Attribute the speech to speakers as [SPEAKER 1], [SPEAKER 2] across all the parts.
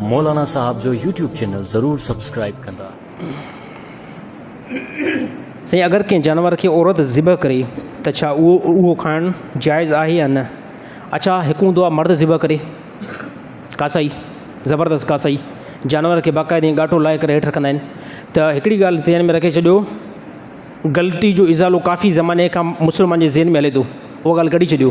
[SPEAKER 1] مولانا صاحب جو YouTube channel ضرور سبسڪرائب ڪندا.
[SPEAKER 2] سائين اگر ڪنهن جانور کي عورت ذبح ڪري ته ڇا اهو کائڻ جائز آهي يا نه اڇا هڪون دعا مرد ذبح ڪري ڪاسائي زبردست ڪاسائي جانور کي باقاعده ائين ڳاٽو لائي ڪري هيٺ رکندا آهن ته هڪڙي ڳالهه ذهن ۾ رکي ڇڏيو غلطي جو ازالو ڪافي زماني کان مسلمان جي ذهن ۾ هلي ٿو اها ڳالهه ڪڍي ڇڏيو.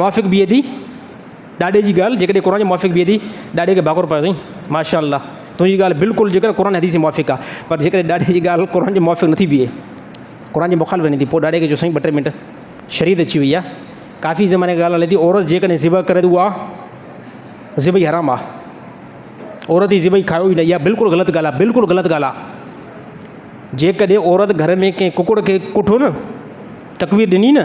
[SPEAKER 2] موافق بيهي ٿي ڏاڏي جي ڳالهه جيڪڏهن قرآن جي موافق بيهي ٿي ڏاڏي کي ڀاڪر پايو سائين ماشاء الله تنهنجي ڳالهه بلڪل جيڪڏهن قرآن حديث جي موافق آ پر جيڪڏهن ڏاڏي جي ڳالهه قرآن جي موافق نٿي بيهي قرآن جي مخالف وڃي ٿي پوء ڏاڏي کي چئو سائين ٻه ٽي منٽ شريعت اچي وئي آ ڪافي زماني کان ڳالهه هلي ٿي عورت جيڪڏهن ذبح ڪري ته اها ذبح حرام آ عورت جي ذبح کائو ئي نه اها بلڪل غلط ڳالهه آ بلڪل غلط ڳالهه آ جيڪڏهن عورت گهر ۾ ڪنهن ڪڪڙ کي ڪٺو نه تڪبير ڏني نه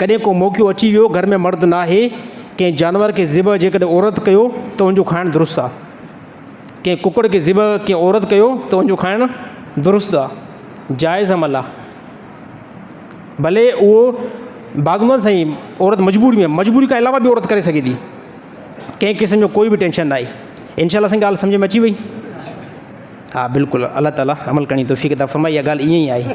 [SPEAKER 2] ڪڏهن ڪو موقعو اچي ويو گهر ۾ مرد ناهي، ڪنهن جانور کي ذبح جيڪڏهن عورت ڪيو ته ان جو کائڻ درست آ. ڪنهن ڪڪڙ کي ذبح ڪنهن عورت ڪيو ته ان جو کائڻ درست آ، جائز عمل آ. ڀلي اهو بعض هوندو آ سائين عورت مجبوري ۾ مجبوري کان علاوه به عورت ڪري سگهي ٿي. ڪنهن قسم جو ڪوئي به ٽينشن ناهي. انشاء الله سائين ڳالهه سمجهه ۾ اچي وئي. ها بلڪل الله تعالي عمل ڪرڻ جي توفيق عطا فرمائي اها ڳالهه ائين ئي آهي.